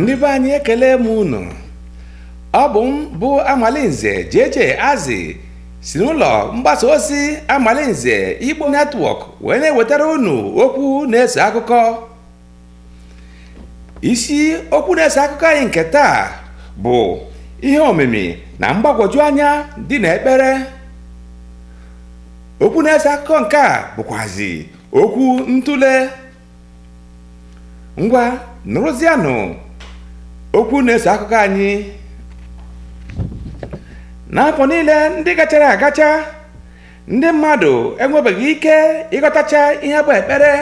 ndị be anyị ekele m unu ọ bụ m bụ amalinze JJ Azị si n'ụlọ mgbasa ozi amalinze Igbo Network wee na-ewetara unu okwu na-eso akụkọ isi okwu na-eso akụkọ anyị nke taa bụ ihe omimi na mgbagwoju anya dị na ekpere okwu na-eso akụkọ nke a bụkwazi okwu ntụle ngwa nụrụzianụ okwu na-eso akụkọ anyị n'afọ niile ndị gachara agacha ndị mmadụ enwebeghị ike ịghọtacha ihe bụ ekpere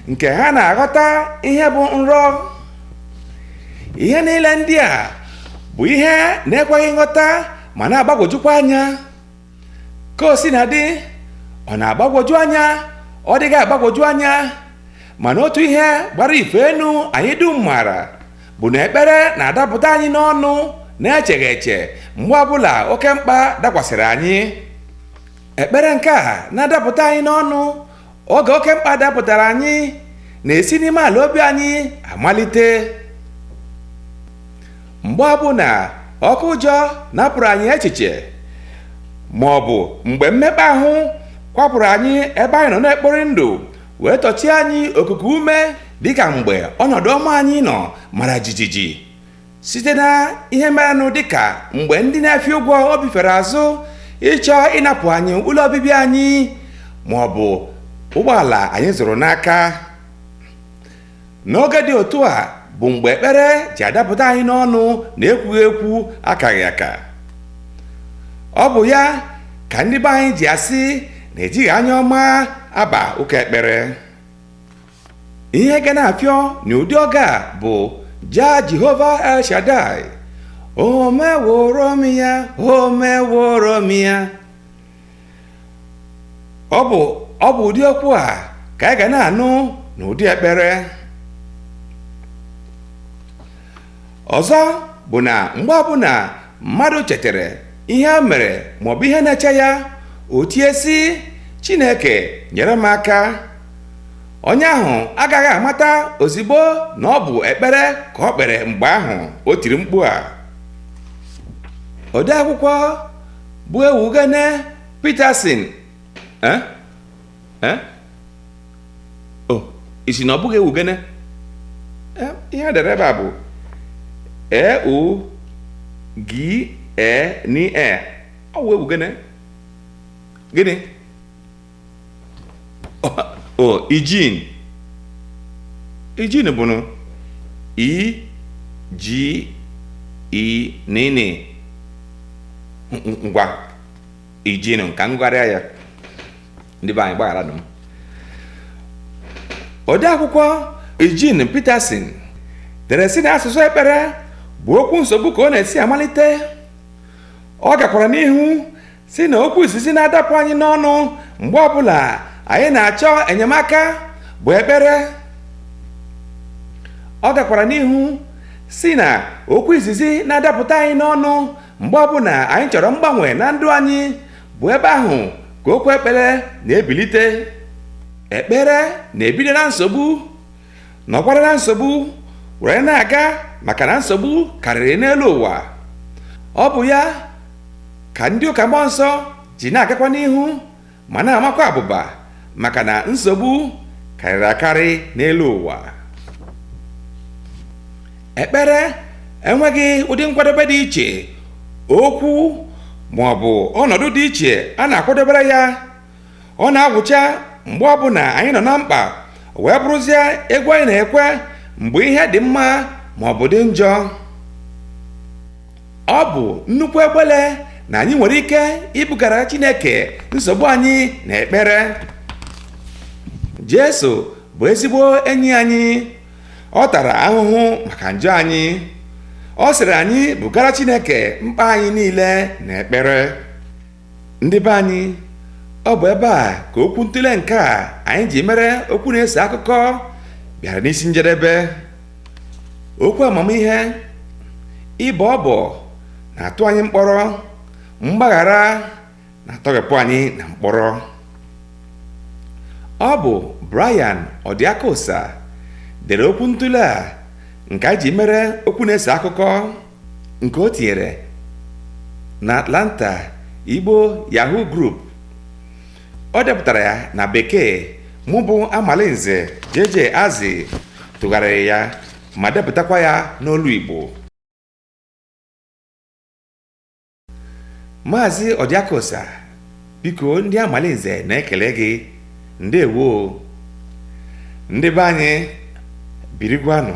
nke ha na-aghọta ihe bụ nrọ ihe niile ndị a bụ ihe na-ekweghị nghọta ma na-agbagwojukwa anya ka o sina dị ọ na-agbagwoju anya ọ dịghị agbagwoju anya mana otu ihe gbara ife enu anyị dum maara bụ na ekpere na-adapụta anyị n'ọnụ na-echeghị eche mgbe ọbụla oke mkpa dakwasịrị anyị ekpere nke a na-adapụta anyị n'ọnụ oge oke mkpa dapụtara anyị na-esi n'ime ala obi anyị amalite mgbe ọbụla oke ụjọ napụrụ anyị echiche ma ọ bụ mgbe mmekpa ahụ kwapụrụ anyị ebe anyị nọ na-ekpori ndụ wee tọchie anyị okuku ume dịka mgbe ọnọdụ ọma anyị nọ mara jijiji site na ihe merenụ dịka mgbe ndị na-efi ụgwọ obi fere azụ ịchọ ịnapụ anyị ụlọ obibi anyị ma ọ bụ ụgbọala anyị zụrụ n'aka N'oge dị otu a bụ mgbe ekpere ji adapụta anyị n'ọnụ na ekwughị ekwu akaghị aka. Ọ bụ ya ka ndị be anyị ji asị na ejighị anya ọma aba ụka ekpere. Ihe ga na-afịọ n'ụdị oge a bụ jaa Jehova El Shaddai, o meworo m ya, o meworo m ya. ọ bụ ọ bụ ụdị okwu a ka anyị ga na-anụ n'ụdị ekpere ọzọ bụ na mgbe ọbụla mmadụ chetara ihe o mere maọbụ ihe na-eche ya o tie sị chineke nyere m aka onye ahụ agaghị amata ozigbo na ọ bụ ekpere ka o kpere mgbe ahụ o tiri mkpu a odeakwụkwọ bụ ewugene Peterson eh? Eh? o oh, ị sị na ọ bụghị ewugene eh, ihe e dere ebe a bụ e u g e n e ọ wụ ewugene gịnị Ọ- o ijin ijin bụ nụ i ji i nini Ng- ng- ngwa ijin ka m gụgharịa ya ndị be anyị gbaghara nụ m odeakwụkwọ Eugene Peterson dere sị na asụsụ ekpere bụ okwu nsogbu ka ọ na-esi amalite ọ gakwara n'ihu sị na okwu izizi na-adapụ anyị n'ọnụ mgbe ọbụla anyị na-achọ enyemaka bụ ekpere ọ gakwara n'ihu sị na okwu izizi na-adapụta anyị n'ọnụ mgbe ọbụla anyị chọrọ mgbanwe na ndụ anyị bụ ebe ahụ ka okwu ekpere na-ebilite ekpere na-ebido na nsogbu nọkwara na nsogbu were na-aga maka na nsogbu karịrị n'elu ụwa ọ bụ ya ka ndị ụka mmụọ nsọ ji na-agakwa n'ihu ma na-amakwa abụba maka na nsogbu karịrị akarị n'elu ụwa ekpere enweghị ụdị nkwadobe dị iche okwu ma ọ bụ ọnọdụ dị iche a na-akwadobere ya ọ na-agwụcha mgbe ọbụla anyị nọ na mkpa wee bụrụzie egwu anyị na-ekwe mgbe ihe dị mma ma ọ bụ dị njọ ọ bụ nnukwu egbele na anyị nwere ike ibugara Chineke nsogbu anyị na ekpere Jesu bụ ezigbo enyi anyị ọ tara ahụhụ maka njọ anyị ọ sịrị anyị bugara Chineke mkpa anyị niile na ekpere ndị be anyị ọ bụ ebe a ka okwu ntụle nke a anyị ji mere okwu na-ese akụkọ bịara n'isi njedebe okwu amamihe ịbọ ọbọ na-atụ anyị mkpọrọ mgbaghara na-atọghepụ anyị na mkpọrọ ọ bụ Brian Ọdịakosa dere okwu ntụle a nke anyị ji mere okwu na-ese akụkọ nke o tinyere na Atlanta Igbo Yahoo Group o depụtara ya na bekee mụ bụ Amalinze JJ Azị tụgharịrị ya ma depụtakwa ya n'olu Igbo Maazị Ọdịakosa biko ndị Amalinze na-ekele gị ndewo ndị be anyị birikwanụ